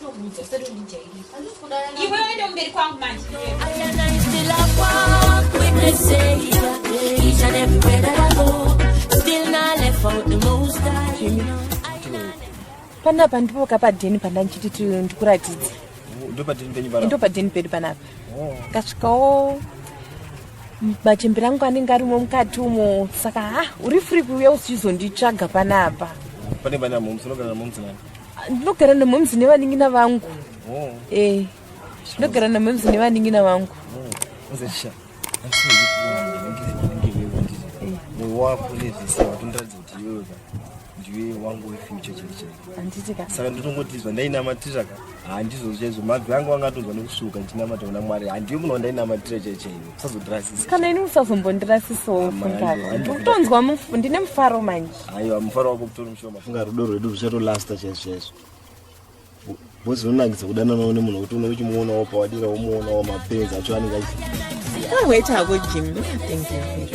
Ndokuudza usati undijairira. Handisi kuda yana. Iwe uende kumberi kwangu manje. panapa ndipo kapadheni pandandichiti ti ndikuratidze ndopadini penyu pana ndopadheni pedu panapa Oh. kasvikawo machembere angu anenge arimo mukati umo saka ha uri free kuuya uchichizonditsvaga panapa pane pane amomusi unogara namomusi nani ndinogara nemomzi nevaningina vangu oh. eh, ndinogara nemomzi nevaningina vangu saka ndotongotizwa ndainamatira ka handizo chaizvo mabvi angu anga atonzwa nekusuka ndinamata kuna mwari handiyo munhu wandainamatira chaichaivo usazotirasisa kana ini usazombondirasisawo fungakutonzwa ndine mufaro manje aiwa mufaro wako kutori mushoma funga rudo rwedu ruchatolasta chaizvo chaizvo bhozi rinonakidza kudananawo nemunhu wekuti unenge uchimuonawo pawadira womuonawo mapenzi acho anenge achi wait hako jim thank you very much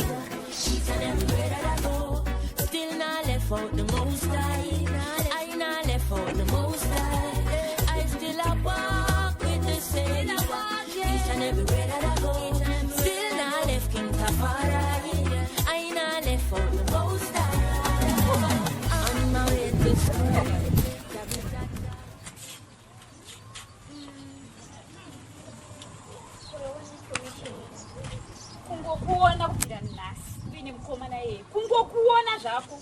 kungokuona kubvira nhasi uine mukoma naye kungokuona zvako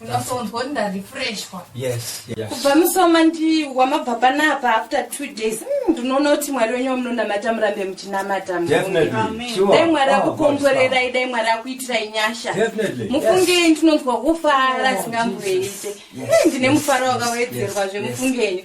unosonzwa kuti ndarefreshwa yes yes kubva musoma ndi wamabva panapa after two days mm, ndinoona kuti mwari wenyu wamunonamata murambe muchinamata Mwari. definitely Amen. sure dai mwari Oh, God, akukomborerai dai mwari akuitirai nyasha Definitely, mufungei ndinonzwa kufara Oh, zvingamboite Jesus. Yes, Eh, ndine yes, mufaro yes, wakawedzerwa yes, zve yes. mufungei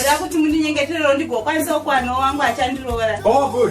oda kuti mundinyengeterero ndigokwanisa kukwanawo wangu achandiroora oh,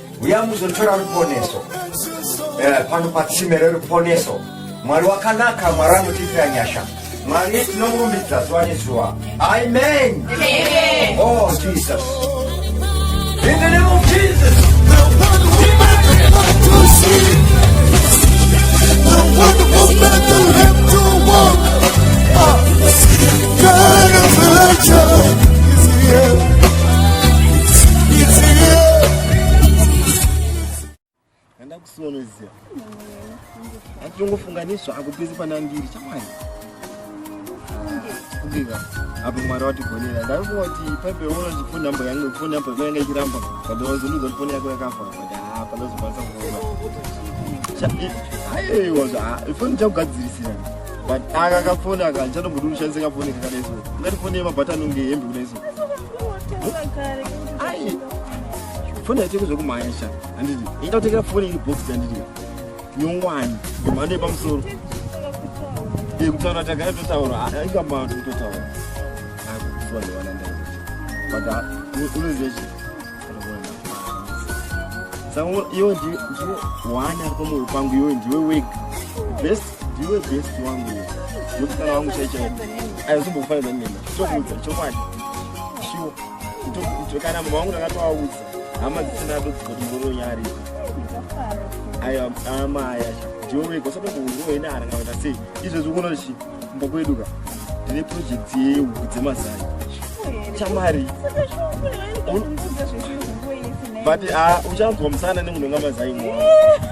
uya muzotora ruponeso eh, pano patsime reruponeso mwari wakanaka mwari anotiitira nyasha mwari tinomurumbidza zuva nezuva amen oh jesus in the name of jesus kusinomezia atongofunganiswa akupezi pana ndiri chamwari kubiva apo mwari watigonera ndaifunga kuti paipe uno ndifoni namba yange foni namba yako yanga ichiramba but wazondiudza kuti foni yako yakafa but haa panozokwanisa kuona aiwa ifoni chakugadzirisira but aka kafoni aka ndichatombodi kushandisa kafoni kakadai so ungati foni yemabhatani unge hembe kudai so ai foni yaitenge zvekumhanya sha handiti inda kutengera foni iri box handiti nyongwani yemhando yepamusoro e kutaura tagara totaura ah, ingambaa tototaura akukuziwa ah, ndewanandai but ah, unoziva chii iwe ndiwe one ari pamoyo pangu iwe ndiwe wega best ndiwe best wangu iwe musikana wangu chaichai aizombokufanidzani nena tokuudza chokwadi shuwa kana mama wangu ndakatoaudza hama dzisina dodzikoti ndoronyari ayo amaya ndiwe wega usatokuuziwa ine arangavata sei izvezvi unochi kumba kwedu ka ndine project yehuku dzemazai chamari but ah, uchanzwa musana nemunhonga mazai mwa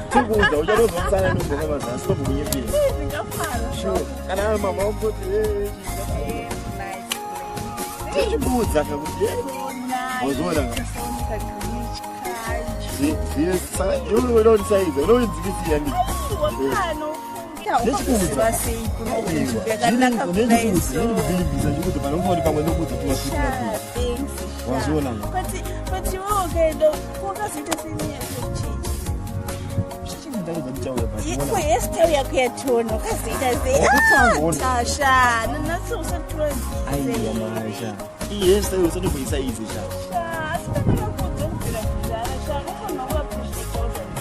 tikuudza uchanonzwa musana nemunhonga mazai sitokunyepera kana mama wakoti tichibuudza kakuti wazoona zviye saka iwe unoita kuti saiza unoidzikisiya ndi Yes,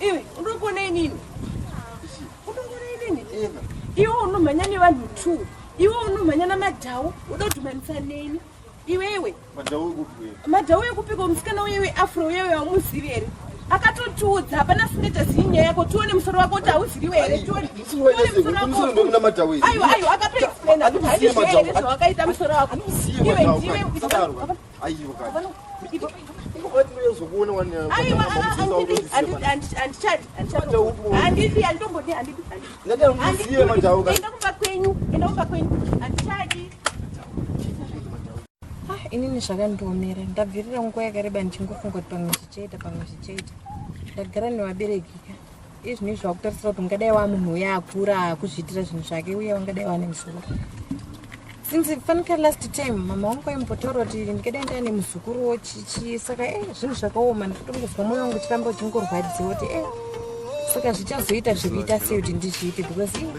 Iwe unokuona inini. Unokuona inini. Eva. Iwe unomhanya nevanhu two. Iwe unomhanya namadhau uda kudhumanisa neni. Iwewe. Madhau ekupi? Madhau ekupi ko musikana uyewe afro uyewe aumuzivi here? akatotiudza hapana singeta zii nyaya yako tione musoro wako kuti hauziviwe here tiooneaiwa aiwa akatoexplaina kuti haizviwe here zvawakaita musoro wako iwe ndiwe inini zvakandiomera ndabvirira nguva yakareba ndichingofunga kuti pamwe zvichaita pamwe zvichaita ndagara nevabereki ka izvi nezvi vakutarisira kuti ungadai wa munhu uye akura akuzviitira zvinhu zvake uye vangadai vane muzukuru since fanika last time mama wangu aimbotaura kuti ndingadai ndaane muzukuru wo chichi saka e zvinhu zvakaoma ndikutongozwa mwoyo wangu uchiramba uchingorwadziwa kuti e saka zvichazoita zvekuita sei kuti ndizviite because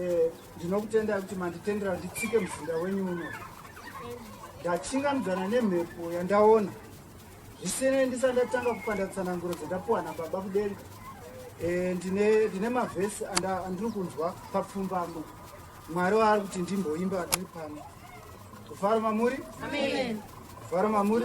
Eh, ndinokutendai kuti manditendera nditsike muzinda wenyu uno ndachingamdzana nemhepo yandaona zvisinei ndisa ndatanga kupanda tsananguro dzendapuwa nababa kudenga eh, ndine mavhesi andiri kunzwa papfumbamo mwari waari kuti ndimboimba andiri pano kufaro mamuri kufaro mamuri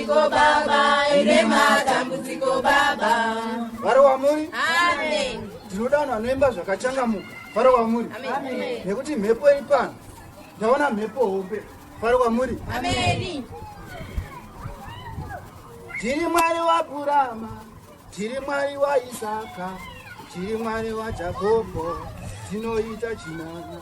Ko baba ine matambudziko baba. Vari wamuri? Amen. Ndinoda vanhu vanoimba zvakachangamuka. Vari wamuri? Amen. Nekuti mhepo iri pano. Ndaona mhepo hombe. Vari wamuri? Amen. Tiri Mwari waAbrahama, tiri Mwari waIsaka, tiri Mwari waJakobo, tinoita chinana.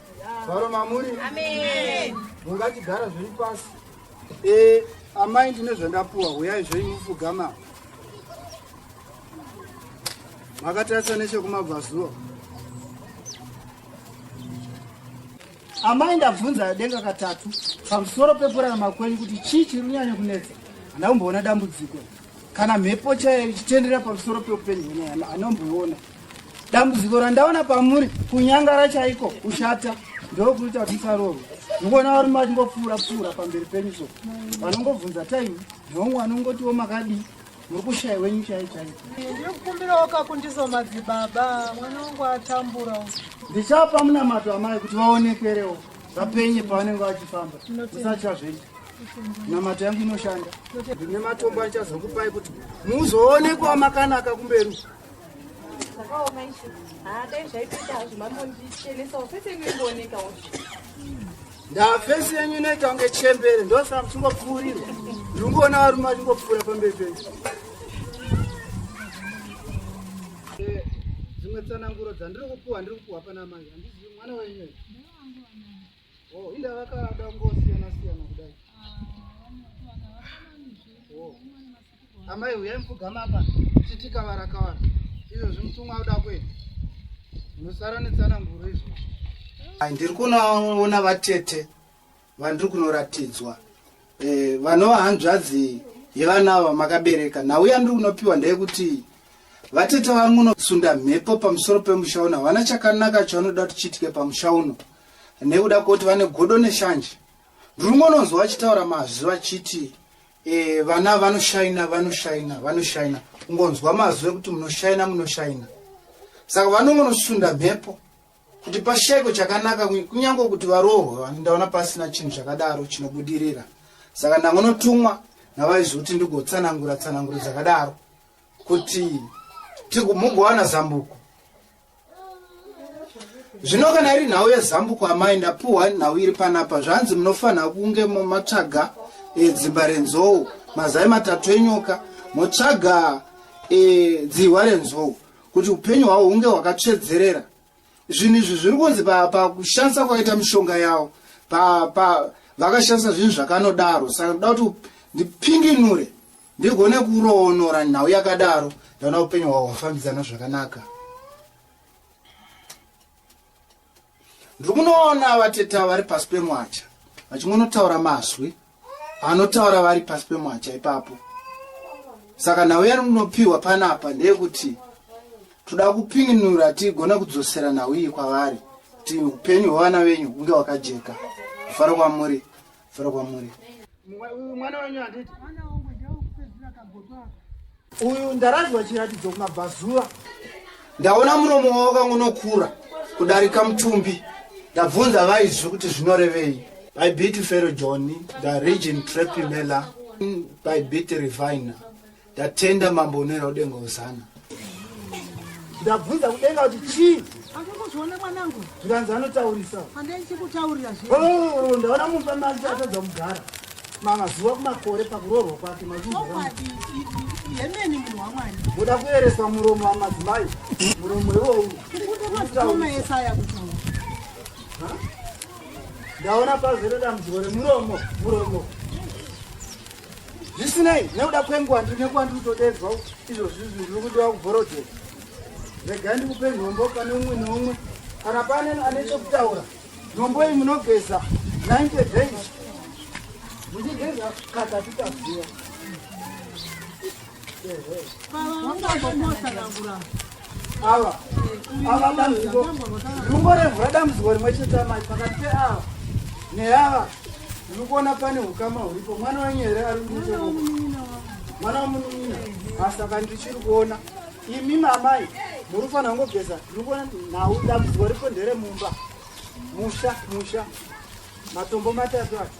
Varo mamuri. Amen. Mungachigara zviri pasi. Eh, amai ndine zvandapuwa, huyai zvenyu mufugama. Makatarisa nechekumabvazuva. Amai ndabvunza denga katatu pamusoro pepurana makwenyu kuti chii chiri kunyanya kunetsa. Handamboona dambudziko. Kana mhepo chaiyo ichitendera pamusoro peupenyu hwenyaya, handomboiona. dambudziko randaona pamuri kunyangara chaiko kushata ndokuita kuti musarohwa mukuona varume vachingopfuura pfuura pamberi penyu so vanongobvunza time nomwe vanongotiwo makadii muri kushaya wenyu chai chai ndikukumbirawo kakundiso madzibaba mwana wangu atambura ndichapa munamato amai kuti vaonekwerewo vapenye pavanenge vachifamba musatya zvenyu namato yangu inoshanda ndine matombo achazokupai kuti muzoonekwa makanaka kumberi ndafesi yenyu inoita kunge chembere ndosaka muchingopfuurirwa ndingoona varume vachingopfuura pamberi penyu dzimwe tsananguro dzandiri kupuwa ndiri kupuwa pana mai handizivi mwana wenyu o oh, inda vakada kungosiyana siyana kudai ah, oh. Amai huyai mupfugama apa titi kavara kavara izvo zvimutumwa uda kwenu unosara netsana nguru izvo ndiri kunoona vatete vandiri kunoratidzwa eh, vanova hanzvadzi yevanava makabereka nhau yandiri kunopiwa ndeyekuti vatete vari munosunda mhepo pamusoro pemusha uno havana chakanaka chavanoda kuti chiitike pamusha uno nekuda kwekuti vane godo neshanje ndiri kungononzwa vachitaura mazwi vachiti Eh, vana vanoshaina vanoshaina vanoshaina kungonzwa mazwi ekuti munoshaina munoshaina saka vanongonosunda mhepo kuti pashaiko chakanaka kunyange kuti varohwe vani ndaona pasina chinhu chakadaro chinobudirira saka ndangonotumwa navaizoti ndigotsanangura tsananguro dzakadaro kuti mugowana zambuko zvino kana iri nhau yezambuko amai ndapuhwa nhau iri panapa zvanzi munofanira kunge matsvaga e, dzimba renzou mazai matatu enyoka motsvaga e, dzihwa renzou kuti upenyu hwavo hunge hwakatsvedzerera zvinhu izvi zviri kunzi pakushandisa pa kwakaita mishonga yavo vakashandisa zvinhu zvakanodaro saka ndoda kuti ndipinginure ndigone kuroonora nhau yakadaro ndaona upenyu hwavo hwafambidzana zvakanaka ndiri kunoona vateta vari pasi pemwacha vachingonotaura mazwi anotaura vari pasi pemwacha ipapo saka nhau yarinopiwa panapa ndeyekuti toda kupinginura tigone kudzosera nhau iyi kwavari kuti upenyu hwevana venyu hunge hwakajeka kufara kwamuri fara kwamuri mwana wenyu handiti uyu ndaradzwa chiratidzo kumabvazuva ndaona muromo wavo kangunokura kudarika mutumbi ndabvunza vaizvi kuti zvinorevei by bit fero john the region trepimela by bit reviner Ndatenda mambo unoenda kudenga usana. Ndabvunza kudenga kuti chii? Andikuzviona mwanangu. Zvikanzi anotaurisa. Andai chikutaurira zve. Oh, ndaona mumba manje atadza kugara. Mama zuva kumakore pakuroorwa kwake mazungu. Yemeni munhu wamwari. Muda kueresa muromo wamadzimai. Muromo iwowu. Ndikuda mazikoma esaya kutaura. Ndaona pazere dambudziko remuromo, muromo. zvisinei nekuda kwenguva ndiri nekuva ndiri kutodedzwa izvo zvinhu ndiri kudiwa kubhorodhera regai ndikupe nhombo pane umwe neumwe kana pane ane chekutaura nhombo iyi munogeza 90 days muchigeza katatu kazuva ava ava dambudziko rungo remvura dambudziko rimwe chete amai pakati peava neava ndiri kuona pane ukama huripo mwana wenyu here ari kuiteko mwana wamunin'ina asaka ndichiri kuona imi mamai muri kufanira kungogeza ndiri kuona nhau dambudziko ripo ndere mumba musha musha matombo matatu acho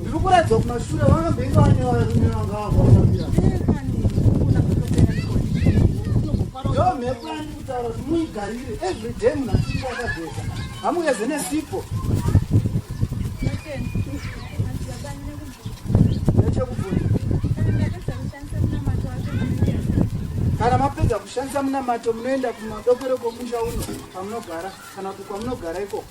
Ndiri kuratidza kumashure vakambenge vanyora rume vanga vakafambira. Yo mhepo yandi kutaura kuti muigarire every day munhu achinge akageza. Hamugeze nesipo. kana mapedza kushandisa munamato munoenda kumadokero komusha uno kwamunogara kana kuti kwamunogara ikoko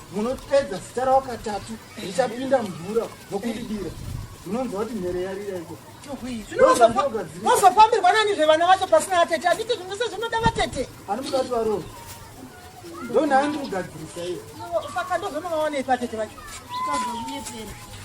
munopedza zita ravo katatu richapinda mvura nokudidira munonzwa kuti mhere yarira iko mozofambirwa nani zvevana vacho pasina vatete anditi zvinhu se zvinoda vatete ani muda kuti varova ndonhaandi kugadzirisa iyo saka ndozvonovaonei vatete vacho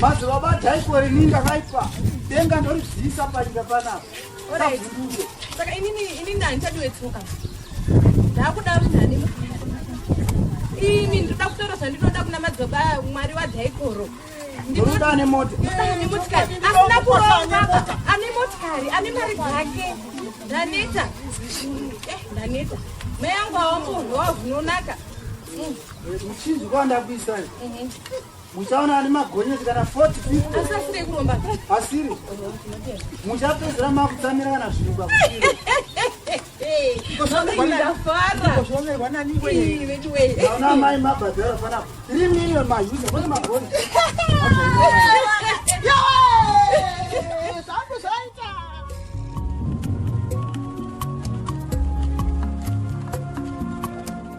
Mazuva bata ikore ninga kaipa denga ndoribvisa panyika panapa savhunduke saka inini inini handichadiwe tsoka ndakuda runhani ini ndinoda kutaura zvandinoda kuna madzibaba mwari wadhaikoro ndinoda ane mota ane motikari asina kuronga ane motikari ane mari dzake ndaneta eh, ndaneta mai yangu awamunhu wavunonaka mm. Muchinzi kwanda kuisa iri. Mhm. Muchaona ari magonyeti kana 40 people. Asi asiri kuromba. Asiri. Muchapedzera makutsamira kana zvinhu kwakutiro. Naona mai mabhadhara fana 3 million mahuza kune magoni.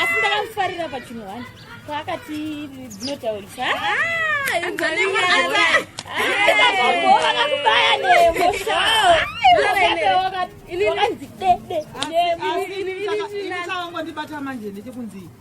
asi ndakamufarira pachinhu wani paakati dzinotaurisa ndibata manje ndechekunzii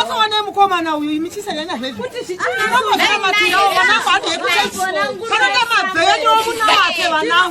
asaone mukomana uyu imichisanyanya zvezvinoamatiraoanaoaeaaa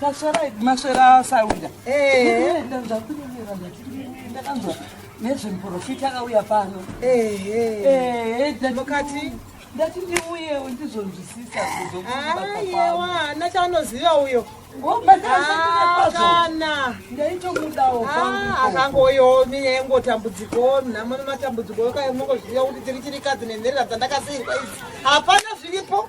Maswera idi maswera asawira. Eh, ndazvakunyemera zvatiri ndakanzwa nezvemuprofita akauya pano. Eh, eh, ndakati ndati ndiuye ndizonzwisisa kuzokuayewa hana chaanoziva uyo kana ndaitomudawo akangoyo minya yengotambudziko nhamo nematambudziko yokaemongoziva kuti tiri chirikadzi nenherera dzandakasiirwa idzi hapana zviripo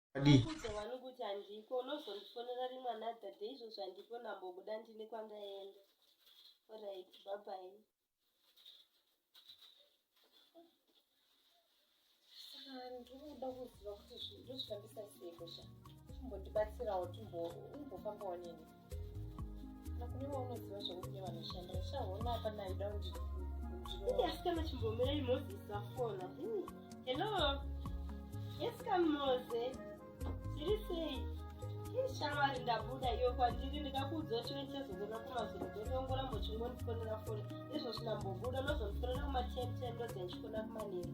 adii handiko unozondifonera rimwe another day izvozvo handiko ndambobuda ndine kwandaenda orit babai ndinoda kuziva kuti ndozvifambisa sei kusha timbondibatsirawo timbofambawo nini asikana chimbomirai moses afona hello yes come mose tiri sei ishamwari ndabuda iyo kwandiri ndikakuudza kuti ndichazogona kumazuro ndonongora mbochingonifonera foni izvozvi ndambobuda nozonifonera kumatenten ndozendichikona kumaneri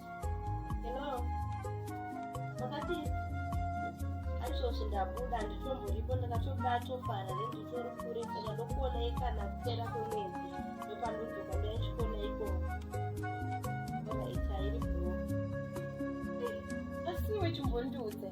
Hello. Wakati aizvozvi ndabuda handitomuripo ndakatobuda atofara renditori kure saka ndokuonai kana kupera kwemwedzi ndopandodzoka ndaichikona ikoko. Ona itairi bro. Asi iwe chimbondiudze.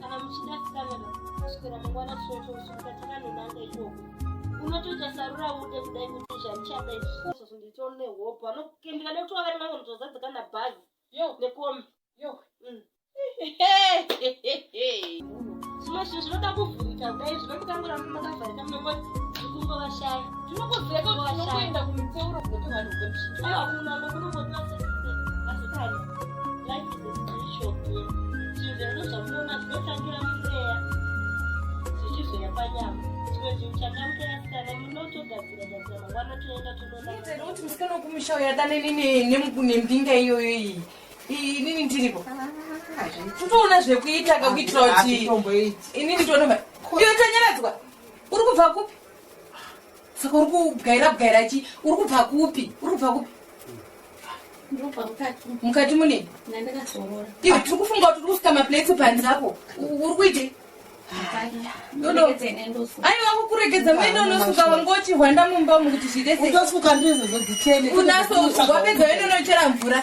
kana muchida sikanaka kuswera mangwana chocho kusvika takanonanga ikoko unotoita sarura ude kudai kuti zvaichada izvozvo nditoo nehope anokendika nekuti wavere mamwe muzozadzika nabhazi yo nekombi yo mm. zvimwe zvinhu zvinoda kuvhurika kudai zvino mukangoramba makavharika mnongoti zvikumbo vashaya musikana wekumusha uyo adane nembinga iyoyo iyi inini ndiripo kutoona zvekuita kakuitira kuti inini ndionova iyo tanyaradzwa uri kubva kupi saka uri kubwaira bwaira chi uri kubva kupi uri kubva kupi mukati mune iwe tiri kufunga kuti uri kusika maplates panzi apo uri kuitei aiwa kukuregedza mene unosuka wangoti hwanda mumba umu kuti zvireseunaso wapedza wene unochera mvura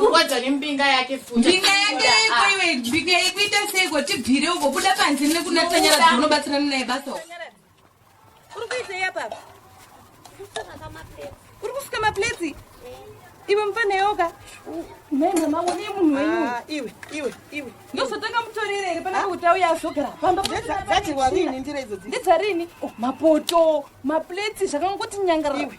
Kurwadza nembinga yake mbinga yake iko iwe mbinga yako ita seiko tibvire uko buda panze nekuna tanyara unobatsirana naye basa uri kuitei apa uri kusuka mapleti iwe mfana yoga mhembe mangu ne munhu wenyu ah, iwe iwe iwe ndozotanga mutorere here pana kuti auya azogara pambadzarini ndira idzo ndidzarini oh, mapoto mapleti zvakangoti nyangaraiwe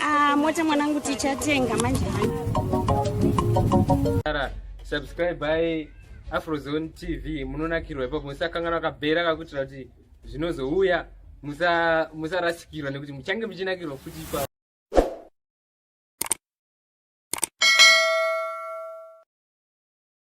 Ah, mota mwanangu tichatenga manje subscribe by afrozone tv munonakirwa ipapo musakangana wakabhera kakutira kuti zvinozouya musarasikirwa nekuti muchange muchinakirwa futi ipapo